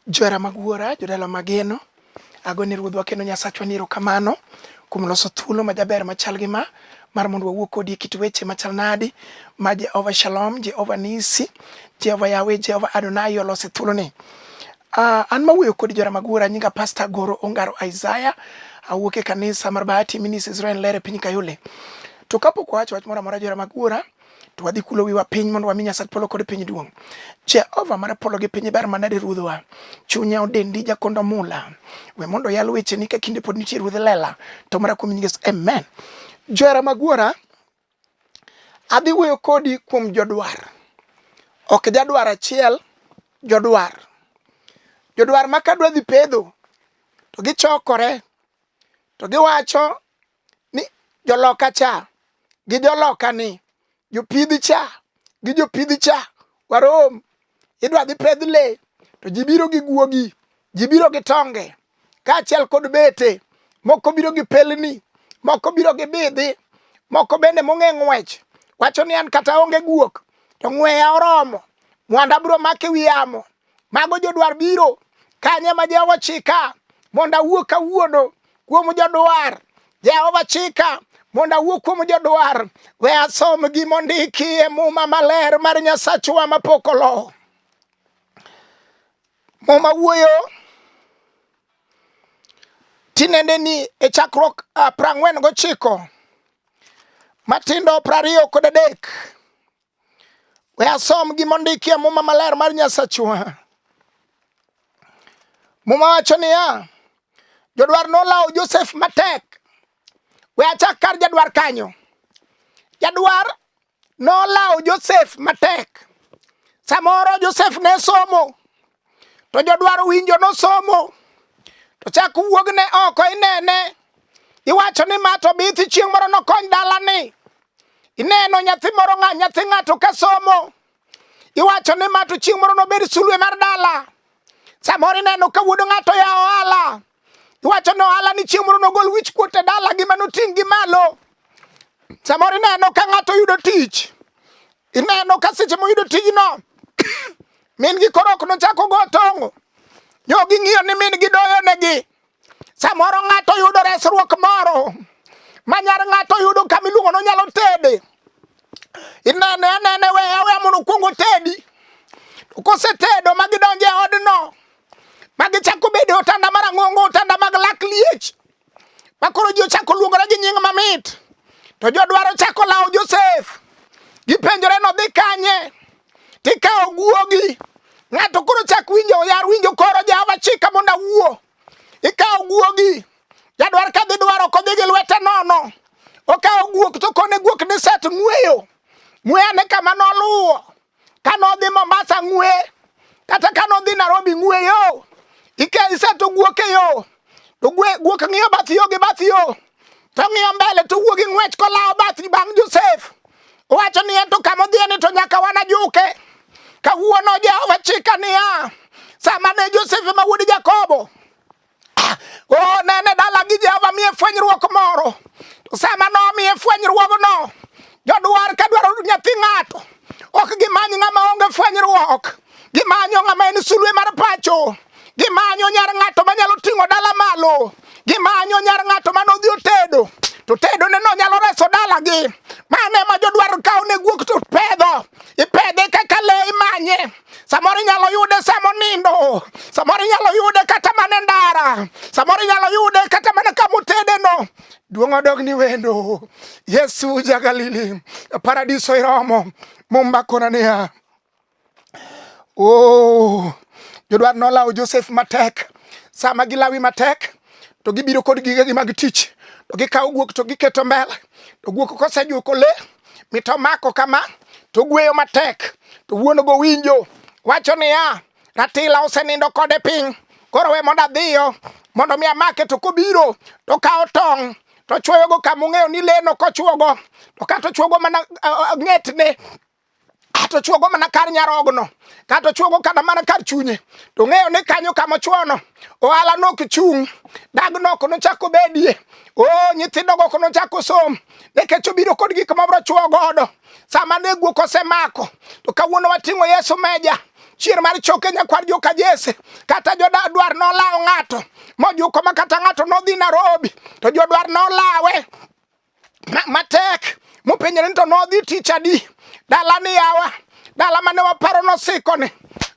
Johera mag Wuora, jodala mageno, ago ni Ruodhwa kendo Nyasachwa ni erokamano kuom loso thuolo majaber machal gi ma mar mondo wawuo kodi e kit weche machal nadi ma Jehova Shalom, Jehova Nisi, Jehova Yawe, Jehova Adonai olose thuoloni. Uh, an mawuoyo kodi jora mag wuora nyinga Pastor Goro Ongaro Isaiah awuok e kanisa mar Bahati Minis Israel Lere piny Kayole. To kapok wawacho wach moro amora jora mag wuora to wadhi kulo wiwa piny mondo wami Nyasach polo kod piny duong'. Jehova mar polo gi piny ber manade ruodhwa, chunya odendi jakondo mula. We mondo yal weche ni ka kinde pod nitie ruodh lela, to mara kuom nyingi amen. Johera magwara, adhi wuoyo kodi kuom jodwar. Ok jadwar achiel, jodwar. Jodwar ma kadwa dhi pedho, to gichokore, to giwacho ni joloka cha gi joloka ni jopidhi cha gi jopidhi cha warom idwa dhi pedh le to ji biro gi guogi ji biro gi tonge kaachiel kod bete moko biro gi pelni moko biro gi bidhi moko bende mong'e ng'wech wacho ni an kata onge guok to ng'weya oromo mwanda biro make wi yamo Mago jodwar biro kanye ma Jehova chika mondo awuo kawuono kuom jodwar. Jehova chika mondo awuo kuom jodwar. We asom gima ondiki e muma maler mar Nyasachwa mapok olo. Muma wuoyo tinende ni e chakruok ah, prang'wen gochiko matindo prariyo kod adek We asom gima ondiki e Muma Maler mar Nyasachwa. Muma wacho niya, jodwar nolawo Josef matek. We achak kar jadwar kanyo. Jadwar nolawo Josef matek. Samoro Josef ne somo, to jodwaro winjo nosomo to chak wuogne oko inene iwacho ni ma to bithi chieng' moro nokony dalani ineno nyathi moro ng'a nyathi ng'ato ka somo iwacho ni ma to chieng' moro nobed sulwe mar dala samoro ineno ka wuod ng'ato ya ohala iwacho ni ohala ni chieng' moro nogol wich kuot e dala gi manoting' gi malo samoro ineno ka ng'ato yudo tich Ineno ka seche moyudo tijno min gi koro ok nochak ogo tong'o nyo ging'iyo ni min gi doyo negi samoro ng'ato yudo resruok moro ma nyar ng'ato yudo kama iluongo no nyalo tede inene anene we awe mondo okuongo tedi kosetedo ma gidonje odno ma gichako bedo otanda mar ang'ongo otanda mag lak liech ma koro ji ochako luongore gi nying mamit to jodwaro chako lawo Josef gipenjore nodhi kanye tikawo guogi ng'ato koro chak winjo oyar winjo koro Jehova chika mondo awuo ikawo guogi jadwar ka dhi dwaro kodhi gi lwete nono okawo guok to kone guok ni set ng'weyo ng'weyane kama noluwo Ka nodhi Mombasa ng'we, kata ka nodhi Nairobi ng'we yo. Ike ise to guok e yo. To guok ng'iyo bath yo gi bath yo. To ng'iyo mbele to wuogi ng'wech kolawo bath bang' Josef. Owacho niya to kama odhiye ni to nyaka wana juke. Kawuono Jehova chika niya, sama ne Josef ma wuod Jakobo Ah, oh, nene dala gi Jehova miye fwenyruok moro. Sama nomiye fwenyruogno, jodwar ka dwaro nyathi ng'ato, ok gimany ng'ama onge fwenyruok. Gimanyo ng'ama en sulwe mar pacho. Gimanyo nyar ng'ato manyalo ting'o dala malo. Gimanyo nyar ng'ato mano odhi otedo. To tedo ne no nyalo reso dala gi. Mane ma jodwar kawo ne guok to pedho. Ipedhe kaka le imanye. Samoro inyalo yude sama onindo, samoro inyalo yude kata mana ndara, samoro inyalo yude kata mana kama otedeno. Duong' odog ni wendo. Yesu ja Galili, paradiso iromo. Mumba kona niya, oh, jodwar nolawo Josef matek. Sama gilawi matek, to gibiro kod gigegi mag tich, to gikawo guok to giketo mbele, to guok kosejuko le mit omako kama to gweyo matek to wuon go winjo wacho niya ratila osenindo kode piny koro we mondo adhiyo mondo mi amake to kobiro to kawo tong' to chwoyogo kama ong'eyo ni leno kochwogo to kata ochwogo mana uh, uh, ng'etne Kato chuogo mana kar nyarogno, kato chuogo kata mana kar chunye, to ng'eyo ni kanyo kama ochuono, ohala nok chung', dag nok nochak obedie, o nyithindo go nochak osom, nikech obiro kod gik ma bro chuo godo. Sama ne guok osemako, to kawuono wating'o Yesu meja chier mar choke nyakwar joka Jesse kata jodadwar nolawo ng'ato mojuko ma kata ng'ato nodhi Nairobi to jodwar nolawe matek mopenjore ni to nodhi tich adi dala ni yawa dala mane waparo nosiko ni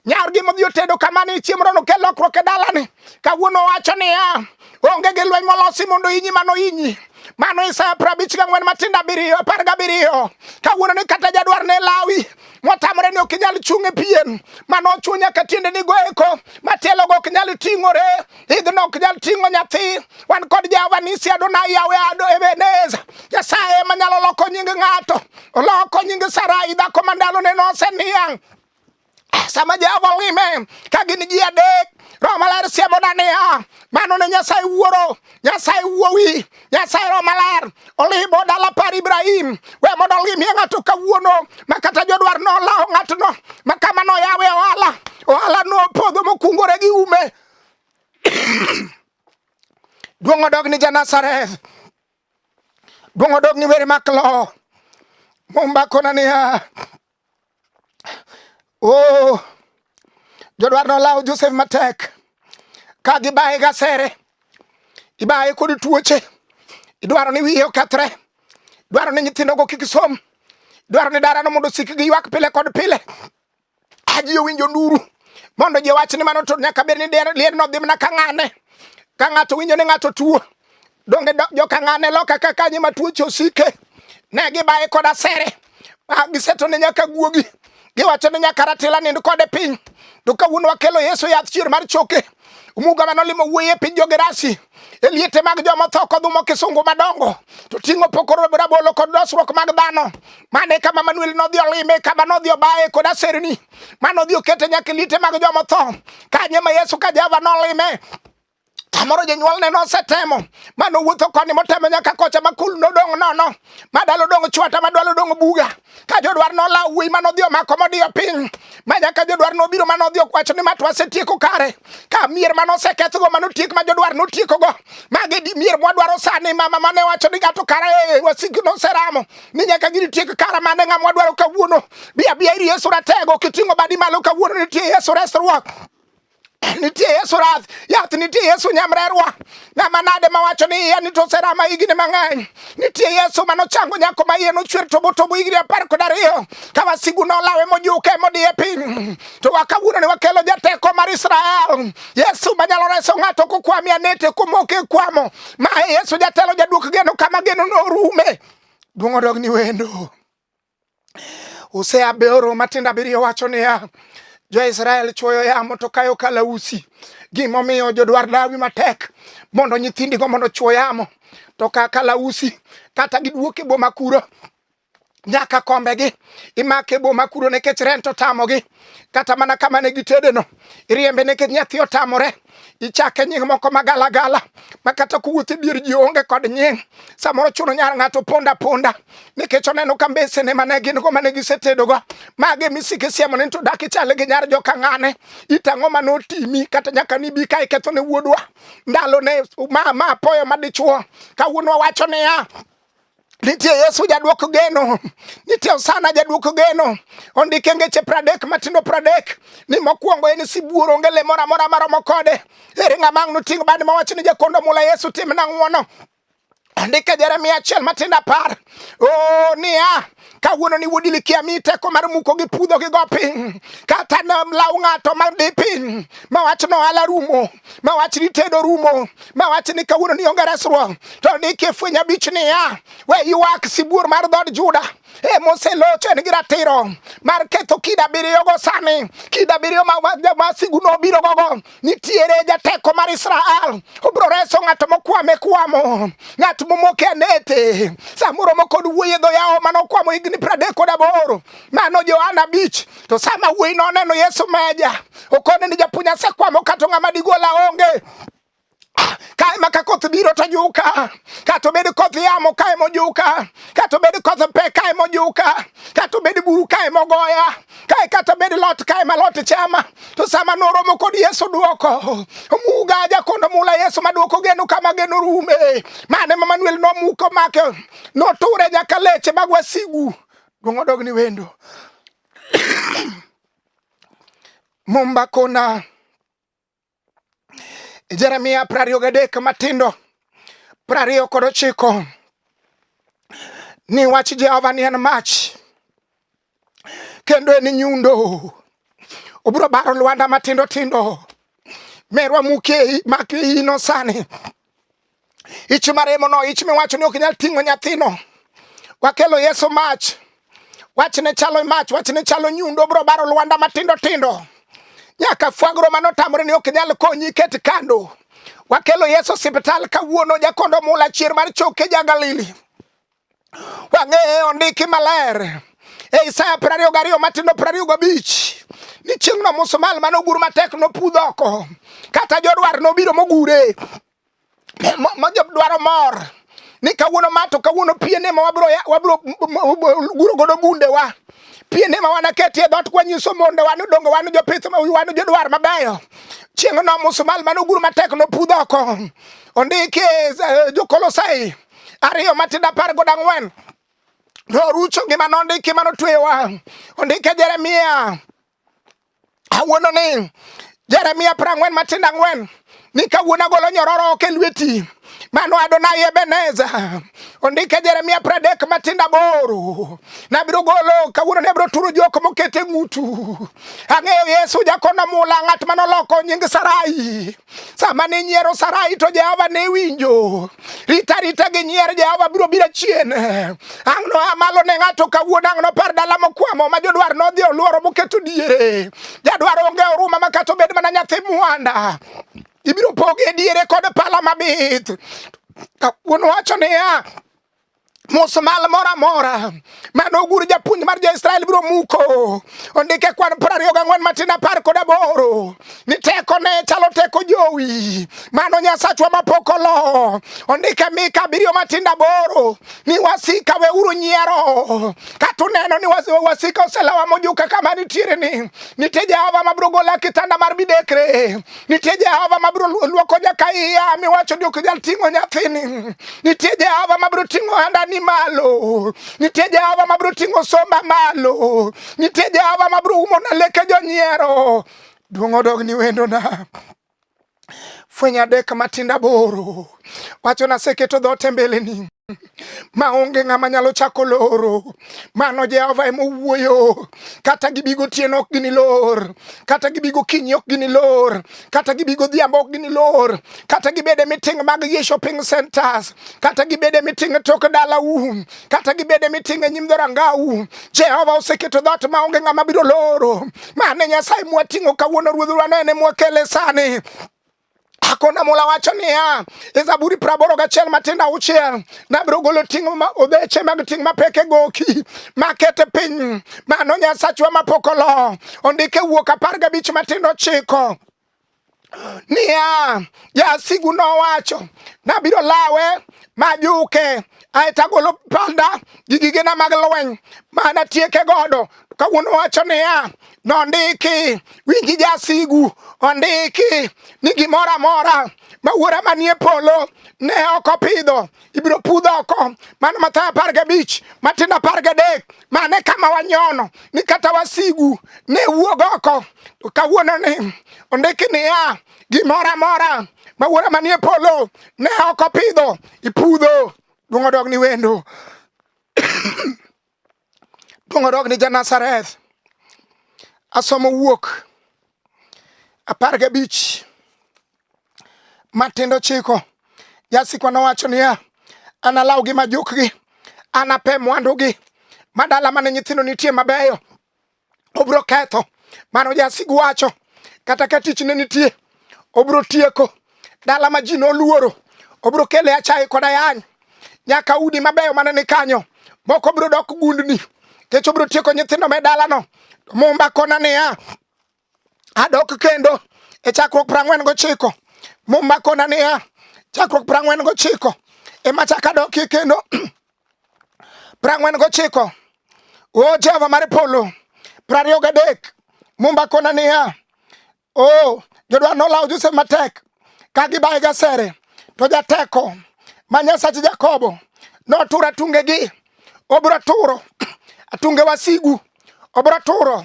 nyargi modhi otedo kama ni chiemo rono kel lokruok e dala ni kawuono wacho ni ya onge gi lweny molosi mondo inyi mano inyi mano Isaya prabich ga ngwen matindo abiriyo apar ga abiriyo kawuono ni kata jadwar ne lawi motamore ni ok inyal chung' e pien mano ochunya ka tiende ni goeko matielo go ok nyal ting'ore idhno ok nyal ting'o nyathi wan kod jehova nisi adonai yawe ado ebeneza nyasaye ema nyalo loko nying ng'ato oloko nying sarai dhako ma ndalone noseniang' sama jehova olime ka gin ji adek roho maler siemona niya mano ne nyasaye wuoro nyasaye wuowi nyasaye roho maler olimo dala par ibrahim we mondo olimie ng'ato kawuono ma kata jodwar nolawo ng'atno ma kama noyawe ohala ohala nopodho mokungore gi ume duong' odog ni Janazareth, duong' odog ni weri mak lowo. Mumba kona niya, oh, jodwar nolawo Josef matek ka gibaye gasere, ibaye kod tuoche, idwaro ni wiye okethre, idwaro ni nyithindogo kik som, idwaro ni darano mondo osik gi ywak pile kod pile. Aji owinjo nduru mondo ji wach ni mano to nyaka bed ni lier no dhi mana ka ng'ane ka ng'ato winjo ni ng'ato tuo donge jo ka ng'ane loka ka kanyi ma tuoche osike ne gibaye kod asere ah, giseto ne nyaka guogi giwacho ni nyaka ratila nind kode piny to kawuono wakelo yesu yath chier mar choke umuga mane olimo wuoyi e piny jogerasi e liete mag joma otho kodhumo kisungu madongo to ting'o pokoro rabolo kod dosruok mag dhano mane kama manuel nodhi olime kama nodhi obaye kod aserni ma nodhi okete nyaka e liete mag joma otho kanye ma yesu ka jehova nolime kamoro jonyuolne nosetemo ma nowuotho koni motemo nyaka kocha ma kul nodong' nono ma dalo dong' chwata ma dwalo dong' buga ka jodwar nolaw wuoyi ma nodhi omako modiyo piny ma nyaka jodwar nobiro ma nodhi okwacho ni matwa setieko kare ka mier ma nosekethgo ma notiek ma jodwar notiekogo magi di mier mwadwaro sani mama mane wacho ni gato kara e eh, wasiki noseramo ni nyaka gini tiek kara mane ng'a mwadwaro kawuono biya biya iri yesu ratego kiting'o badi malo kawuono nitie yesu resruok nitie Yesu rath yath nitie Yesu nyamrerwa ng'ama nade mawacho ni iya nitoserama higni mang'eny nitie Yesu manochango nyako ma iye nochwer tobotobo higni apar kod ariyo ka wasigu nolawe mojuke modiye piny to wakawuono ni wakelo jateko mar Israel Yesu manyalo reso ng'ato kokwami anete komoke kwamo ma Yesu jatelo jaduok geno kama geno norume duong' odog ni wendo Hosea abioro matindo abiriyo wacho niya, Jo-Israel chwoyo yamo to kayo kalausi. Gimomiyo jodwar lawi matek mondo nyithindigo mondo chwo yamo to ka kalausi kata giduok e boma kuro nyaka kombegi imake boma kuro nekech rent otamogi kata mana kama ne gitedeno iriembe nekech nyathi otamore ichake nying moko magalagala ma kata kowuoth e dier ji onge kod nying samoro chuno nyar ng'ato ponda ponda nikech oneno ka mbesene mane gin go mane gisetedogo mage misike siemo ni to dak ichale gi nyar joka ng'ane itang'o ma notimi kata nyaka nibi ka iketho ne wuodwa ndalo ne ma ma apoyo madichuo kawuono wacho niya Nitie Yesu jadwok geno, nitie Osana jadwok geno. Ondike ngeche pradek matindo pradek ni mokwongo en sibuor onge le moro amora maromo kode. Ere ng'ama ang' noting' bad ma wach ni jakondo mula Yesu timna ng'wono. Andika Jeremia achiel matindo apar oh, niya kawuono ni wuodi likia mi teko mar muko gi pudho gi go piny kata nam law ng'ato ma di piny ma wach no ala rumo ma wach ni tedo rumo ma wach ni kawuono ni onge resruok to ni kifweny abich niya we ywak sibuor mar dhod Juda e moselocho en gi ratiro mar ketho kida biriyo go sani kida biriyo ma, ma, ma sigu nobiro gogo nitiere jateko mar Israel obro reso ng'ato mokwame kwamo ng'at momoke anete samoro mokod wuoye dho yawo mano kwamo higni pradek kod aboro mano Johana abich to sama wuoyi noneno Yesu meja okone ni japuonj asekwamo kato ng'ama digola onge kae ma ka koth biro to juka, kata obed koth yamo kae mojuka, kata obed koth pe kae mojuka, kata obed buru kae mogoya, kae kata obed lot kae ma lot chama. To sama noromo kod Yesu duoko, omuga aja kondo mula Yesu maduoko geno kama geno rume. Mane ma Manuel nomuko make, noture nyaka leche mag wasigu. Duong' odog ni wendo. Mumba kona Jeremia prariyo gadek matindo prariyo kod ochiko ni wach Jehova ni en mach kendo en nyundo obiro baro lwanda matindo tindo merwa muke mak ino sani Ich maremono, ich miwacho ni ok nyal ting'o nyathino. Wakelo Yesu mach. Wachne chalo mach, wachne chalo nyundo, bro baro lwanda matindo tindo. Nyaka fwagro mano tamre ni ok nyal konyi ket kando. Wakelo Yesu hospital kawuono jakondo mula chier mar choke ja Galili. Wang'eyo ondiki maler e Isaya piero ariyo gariyo matindo piero ariyo gabich ni chieng'no musumal mane ogur matek nopudh oko kata jodwar nobiro mogure mojodwaro mor ni kawuono ma to kawuono piene ma wabro wabro guro godo gundewa piene ma wanaketie dhoot kwanyiso mondo wan dongo wan jopith wan jodwar mabeyo chieng'no musumal mane ogur matek nopudh oko ondiki e, e, jokolosai ariyo matindo apar kod ang'wen norucho gima nondiki ma notweyowa ondike jeremia awuono ni jeremia piero ang'wen matindo ang'wen ni kawuono agolo nyororo ok e lweti mano Adonai Ebeneza ondike Jeremia pradek matinda boro nabiro golo kawuono ne biro turo jok mokete ng'utu ang'eyo Yesu jakono mula ng'at manoloko nying Sarai sama ne nyiero Sarai to Jehova ne winjo. Rita rita gi nyier Jehova biro biro chien. Ang' no amalo ne ng'ato kawuono ang' nopar dala mokwamo ma jodwar nodhi oluoro moketo diere. Jadwar onge oruma ma kata obed mana nyathi mwanda. Ibiro poge diere kod pala mabith. Kawuono wacho niya, musmal moro amora mane ogur japuonj mar jo-Israel biro muko. Ondike kwan piero ariyo gang'wen matin apar kod aboro ni teko ne chalo teko jowi mano Nyasachwa mapok olo. Ondike Mika abiriyo matin aboro ni wasika weuru nyiero kata uneno ni wasika oselawa mojuka kama nitiere ni nitie Jehova mabiro gola kitanda mar midekre Nitie Jehova mabiro luoko jaka iya miwacho ni ok nyal ting'o nyathini. Nitie Jehova mabiro ting'o handani malo. Nitie Jehova mabiro ting'o somba malo. Nitie Jehova mabiro umo na leke jonyiero. Duong' odog ni wendona fweny adek matinda boro wacho naseketo dhote mbeleni maonge ng'ama nyalo chako loro. Mano Jehova ema owuoyo. Kata gibi gotieno ok ginilor, kata gibi gokinyi ok ginilor, kata gibi godhiambo ok ginilor, kata gibede miting' mag gi shopping centers, kata gibede miting' e tok dalau, kata gibede miting' e nyim dhorangau. Jehova oseketo dhoot maonge ng'ama biro loro. Mane Nyasaye mwating'o kawuono, Ruodhwa ne ene mwakele sani akonda mola wacho niya e zaburi praboro gachiel matindo auchiel nabiro golo ting' obeche mag ting' mapek e goki makete piny mano nyasachwa mapok olo ondike wuok apar gabich matindo ochiko niya jasigu nowacho nabiro lawe majuke aeto agolo panda gi gigena mag lweny mana tieke godo kawuono wacho niya nondiki winji jasigu ondiki ni gimoro amora ma wuora manie polo ne ok opidho ibiro pudho oko mano mathayo apar gabich matindo apar gadek mane kama wanyono ni kata wasigu ne wuog oko to kawuono ni ondiki niya gimoro amora ma wuora manie polo ne ok opidho ipudho duong' odog ni wendo Donge odok ni Janazareth? Asomo wuok apar gabich matindo chiko. Jasikwa nowacho niya, analawgi majukgi, anape mwandugi ma dala mane nyithindo nitie mabeyo obiro ketho. Mano jasigu wacho, kata ka tich ne nitie, obiro tieko. Dala ma ji noluoro, obiro kele achaye kod ayany. Nyaka udi mabeyo mane ni kanyo, moko biro dok gundni. Kech obiro tieko nyithindo me dalano. To Mumba kona niya, adok kendo e chakruok prang'wen gochiko. Mumba kona niya, chakruok prang'wen gochiko. Ema chaka dokie kendo. prang'wen gochiko o oh, jehova mar polo prariyo gadek mumba kona niya o oh, jodwa nolawo josef matek ka gibaye gasere to jateko ma nyasachi jakobo notura tungegi obro turo atunge wasigu obro turo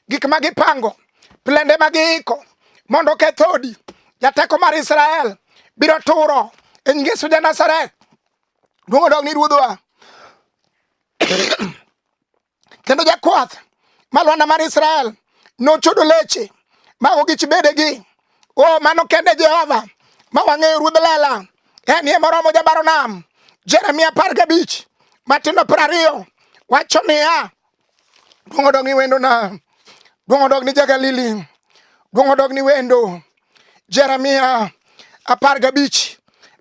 gik ma gipango plende ma giiko mondo kethodi jateko mar israel biro turo e nyingesu ja nazareth Duong' odog ni ruodhwa. Kendo jakwath ma Lwanda mar Israel nochodo leche mago gi chibedegi. O mano kende Jehova ma wang'eyo ruodh lela en ye moromo jabaro nam. Jeremia apar gabich matindo piero ariyo wacho niya, Duong' odog ni wendona. Duong' odog ni Jagalili. Duong' odog ni wendo. Jeremia apar gabich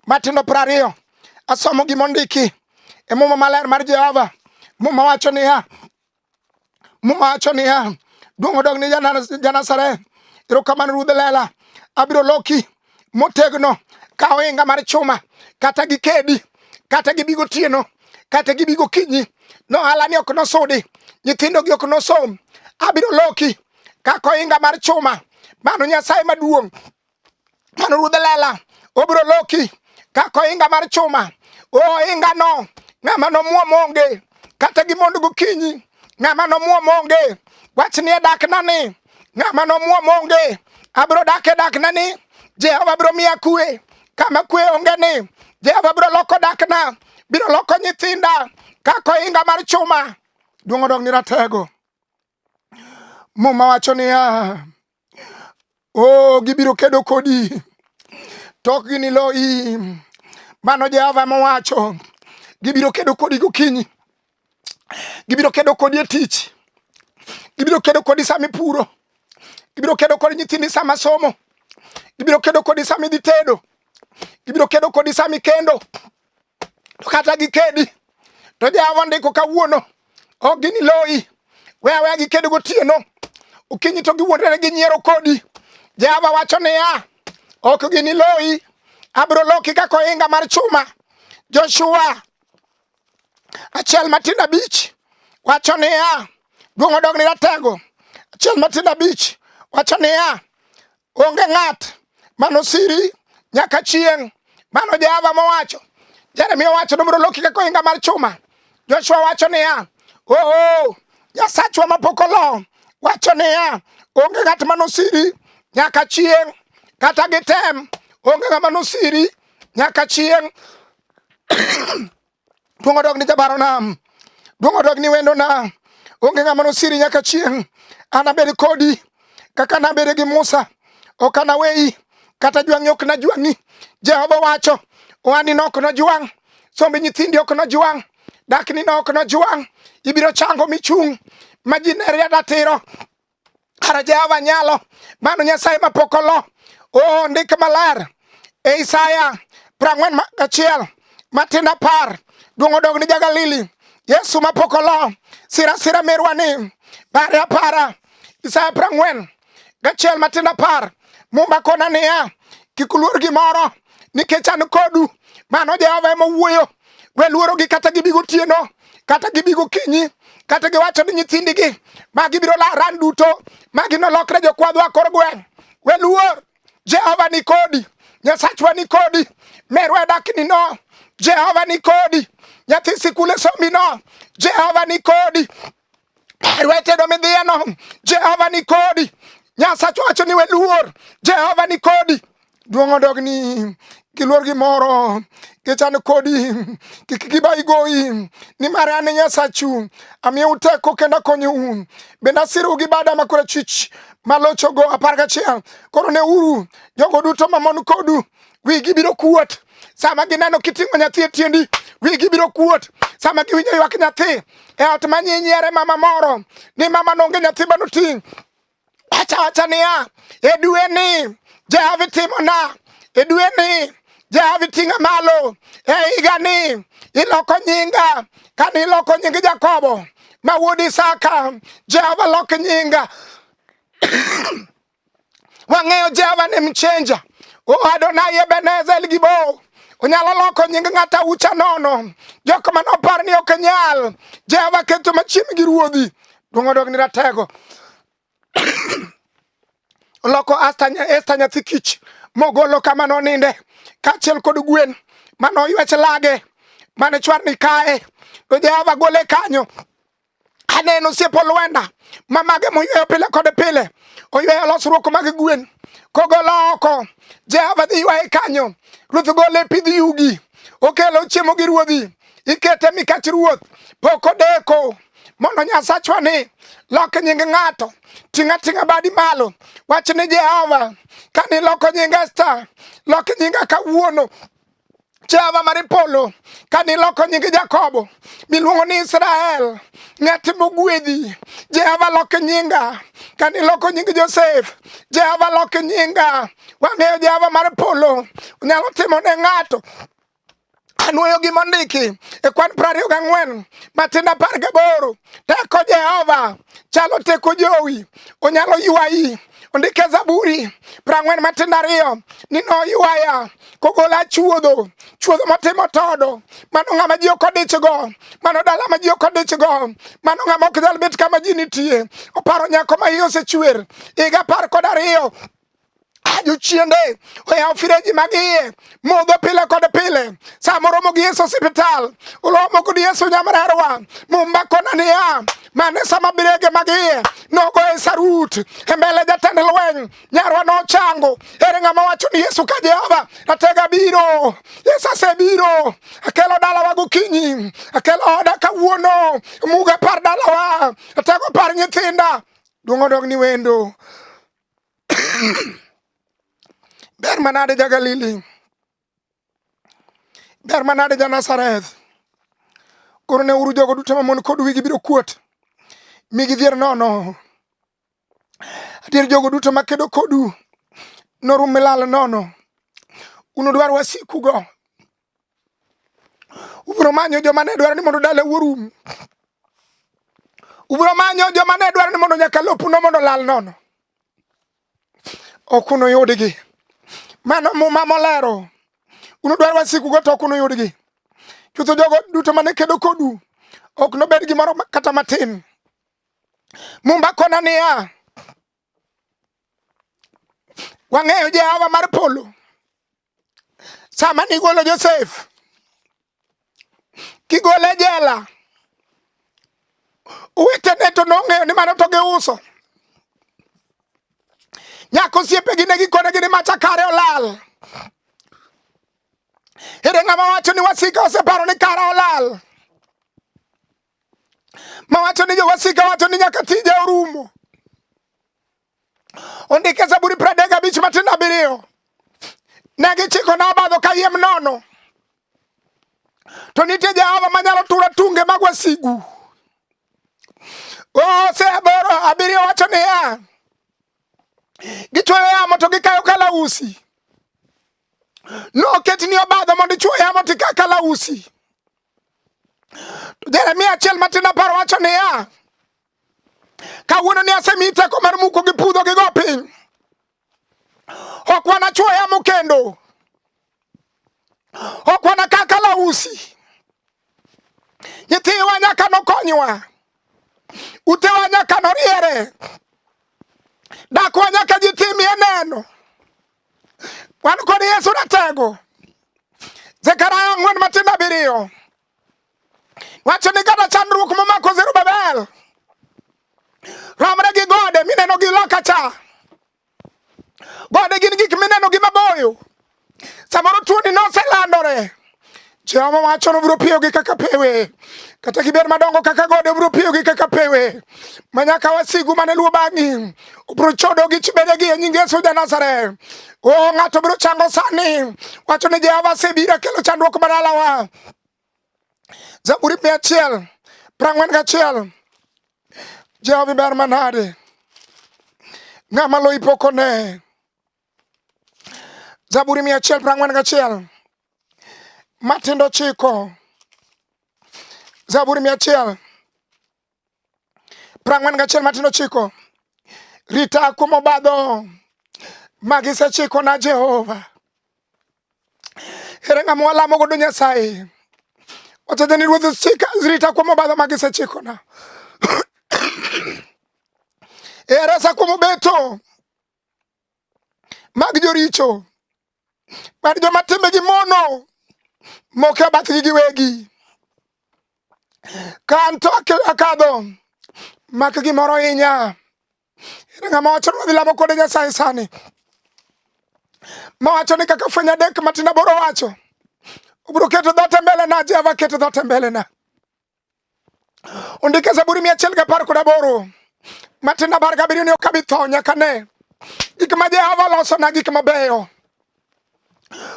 matindo piero ariyo asomo gima ondiki e muma maler mar Jehova. Muma wacho niya, muma wacho niya, duong' odog ni Janasareth. Erokamano Ruodh Lela, abiro loki motegno ka ohinga mar chuma kata gi kedi kata gi bigo tieno kata gi bigo kinyi no hala ni ok nosudi nyithindo gi ok nosom abiro loki kaka ohinga mar chuma mano nyasaye maduong' mano ruodh lela obiro loki kaka ohinga mar chuma ohinga no ng'ama nomuom onge kata gi mondo gokinyi ng'ama nomuom onge wach nie dakna ni ng'ama nomuom onge abiro dak e dakna ni jehova biro miya kwe kama kwe onge ni jehova biro loko dakna biro loko nyithinda kako inga mar chuma duong' odog ni ratego muma wacho niya o oh, gibiro kedo kodi to ok ginilo i mano Jehova mowacho gibiro kedo kodi gokinyi gibiro kedo kodi e tich gibiro kedo kodi sama ipuro gibiro kedo kodi nyithindi sama somo gibiro kedo kodi sama idhi tedo gibiro kedo kodi sama ikendo to kata gikedi to Jehova ndiko kawuono ok giniloyi we aweya giked gotieno okinyi to giwuondore gi nyiero kodi Jehova wacho niya ok giniloyi abiro loki kaka ohinga mar chuma Joshua achiel matindo abich wacho niya duong' odog ni ratego achiel matindo abich wacho niya Onge ng'at mano siri nyaka chieng'. Mano Jehova mowacho. Jeremia owacho nomro loki kaka ohinga mar chuma. Joshua wacho niya, oo Nyasachwa mapok olo wacho niya, onge ng'at mano siri nyaka chieng' kata gitem, onge ng'ama nosiri nyaka chieng'. Duong' odog ni jabaro nam, duong' odog ni wendo nam. Onge ng'ama nosiri nyaka chieng'. Anabed kodi kaka nabede gi Musa, ok anaweyi kata jwang'i ok najwang'i. Jehova wacho, ohandino ok nojwang', somb nyithindi ok nojwang', daknino ok nojwang'. Ibiro chango michung' ma ji neri adatiro. Kara Jehova nyalo, mano Nyasaye ma pok olo. Oh, ndik maler e Isaya prang'wen gachiel matin apar duong' odog ni Jagalili Yesu ma pok olo sira sira merwa ni pare apara Isaya prang'wen gachiel matin apar mumba kona niya kik uluor gimoro nikech an kodu mano Jehova ema wuoyo We luorogi kata gibi gotieno, kata gibi gokinyi, kata giwacho ni nyithindigi ma gibiro ran duto ma ginolokre jokwadhwa kor gweng'. We luor, Jehova ni kodi, Nyasachwa ni kodi, merwa dakni no, Jehova ni kodi, nyathi sikul e somi no, Jehova ni kodi. Herwetedo midhiyeno, Jehova ni kodi. Nyasacho wacho ni we luor, Jehova ni kodi. Duong' odogni giluor gimoro gichan kodi kik giba igoyi nimar an nyasachu amiyou teko kendo akonyou bende asirou gi bada makora chich malochogo apar gachiel koro neuru jogo duto mamon kodu wigi biro kuot sama gineno kiting'o nyathi e tiendi wigi biro kuot sama giwinjo ywak nyathi e ot ma nyinyiere mama moro ni mama nonge nyathi ma noting' wacha wacha niya e dwe ni jahavi timona e dwe ni jahavi ting'a malo e higa ni iloko nyinga kane iloko nying jakobo ma wuod isaka jehova lok nyinga Wang'eyo Jehova ni mchenja. O oh, Adonai Ebenezer El Gibor. Onyalo loko nying ng'ata ucha nono. Jok ma nopar ni ok nyal. Jehova keto machiegni gi ruodhi. Duong' odog ni ratego. Oloko Esta nyathi kich mogolo kama noninde kaachiel kod gwen mane oywech lage mane chwarni kae to Jehova gole kanyo Aneno osiep olwenda ma mage moyweyo pile kod pile, oyweyo losruok mag gwen kogolo oko. Jehova dhi ywaye kanyo, ruoth gole e pidh yugi, okelo chiemo gi ruodhi, ikete mikach ruoth, pok odeko mondo nyasachwa ni lok nying ng'ato ting'a ting'a badi malo wach ni jehova kani loko nying esta lok nyinga kawuono Jehova mar polo, ka niloko nying Jakobo miluongo ni Israel, ng'at mogwedhi. Jehova loko nyinga, ka niloko nying Josef, Jehova loko nyinga. Wang'eyo Jehova mar polo nyalo timo ne ng'ato anwoyo gi mondiki e kwan prariyo gang'wen matin apar gaboro teko jehova chalo teko jowi onyalo ywayi Ondike Zaburi prang'wen matindo ariyo ni noywaya kogola chuodho chuodho motimo todo mano ng'ama ji ok odichgo mano dala ma ji ok odichgo mano ng'ama ok nyal bet kama ji nitie oparo nyako ma iye osechwer higa apar kod ariyo ajochiende oyawo fireji mag iye modho pile kod pile sama oromo gi yesu sipital uromo kod yesu nyamrerwa mumbakona niya mane sama birege mag iye nogo e sarut e mbele jatend lweny nyarwa nochango ere ng'ama wacho ni yesu ka jehova ratega biro yesu asebiro akelo dalawa gokinyi akelo oda kawuono muga par dalawa atego par nyithinda duong' odog ni wendo ber manade ja Galili, ber manade ja Nazareth. Koro ne uru jogo duto mamon kod wigi biro kuot, mi gidhier nono. Adier jogo duto makedo kodu norum milal nono. Unudwar wasikugo Ubiro manyo joma ne dwaro ni mondo dala orum. Ubiro manyo joma ne dwaro ni mondo nyaka lopuno mondo lal nono. Ok unuyudgi. Mano muma molero. Unudwar wasikugo to ok unuyudgi. Chutho jogo duto mane kedo kodu ok nobed gimoro kata matin. Mumba kona niya, wang'eyo Jehova mar polo. sama nigolo Josef kigole jela, owetene to nong'eyo ni mano to giuso. Nyako osiepegi ne gikone gi ni macha kare olal. Ere ng'ama wacho ni wasika oseparo ni kara olal? Mawacho ni jowasika wacho ni nyaka tije orumo. ondike Zaburi pradek abich matindo abiriyo ne gichiko na obadho kayiem nono to nitie Jehova manyalo turo tunge mag wasigu. Ose aboro abiriyo wacho niya, gichwoyo yamo to gikayo kalausi, noketni obadho mondo ichwo yamo to ika kalausi. To Jeremia achiel matin apar wacho niya, Kawuono ni asemi teko mar muko gi pudho gi go piny. Ok wanachwo yamo kendo. Ok wanakaa kalausi. Nyithiwa nyaka nokonywa. Utewa nyaka noriere. Dakwa nyaka ji timie neno. Wan kod Yesu ratego. Zekaria ang'wen matindo abiriyo. Wacho ni kata chandruok momako Zerubabel romre gi gode mineno gi loka cha. Gode gin gik mineno gi maboyo. Samoro tuoni noselandore. Jehova wacho nobiro piyogi kaka pewe kata gibed madongo kaka gode obiro piyogi kaka pewe ma nyaka wasigu mane luwo bang'i obiro chodogi chibedegi e nying Yesu ja Nazareth. O ng'ato biro chango sani wacho ni Jehova asebiro kelo chandruok madalawa Zaburi mia achiel prang'wen gachiel Jehova ber manade ng'ama loyi pok one Zaburi mia achiel prang'wen gachiel matindo chiko Zaburi mia achiel prang'wen gachiel matindo chiko rita kumo badho magisechiko na jehova ere ng'ama walamo godo nyasaye ochedhe ni ruodhi chika rita kuom obadho magisechiko na eresa kuom obeto mag joricho mar joma timbegi mono mokia bathgi giwegi ka an to akadho mak gimoro hinya ere ng'ama wacho ni wadhi lamo kode nyasaye sani mawacho ni kaka fweny adek matin aboro wacho obiro keto dhote mbele na jehova keto dhote mbele na Ondike Zaburi mia achiel gi apar kod aboro matindo apar gabiriyo ni ok abi tho nyaka ne gik ma Jehova olosona gik mabeyo.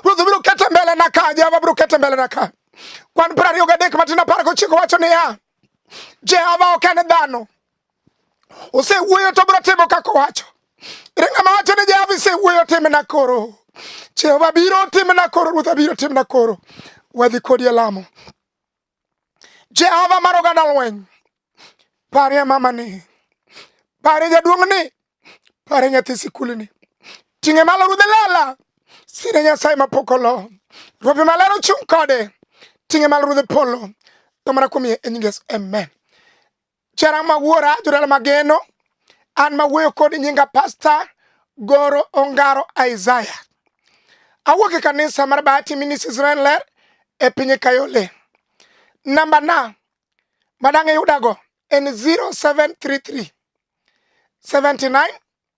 Ruoth biro kete mbele na ka, Jehova biro kete mbele na ka. Kwan piero ariyo gadek matindo apar gochiko wacho niya, Jehova ok en dhano, osewuoyo to biro timo kaka owacho. Ere ng'ama wacho ni Jehova isewuoyo timna koro? Jehova biro timna koro, Ruoth abiro timna koro. Wadhi kodi e lamo. Jehova mar oganda lweny, parie mamani, parie jaduong'ni, parie nyathi sikulni, ting'e malo rudhe lela, sire Nyasaye mapok olo, rope maler ochung' kode, ting'e malo rudhe polo, to mana kuom yie e nyingeso, amen. Jara ma wuora jodala mageno an ma wuoyo kod nyinga pasta Goro Ongaro Isaiah. Awuok e kanisa mar Bahati Ministries Israel Ler e piny Kayole. Namba na madang' iyudago en 0733 79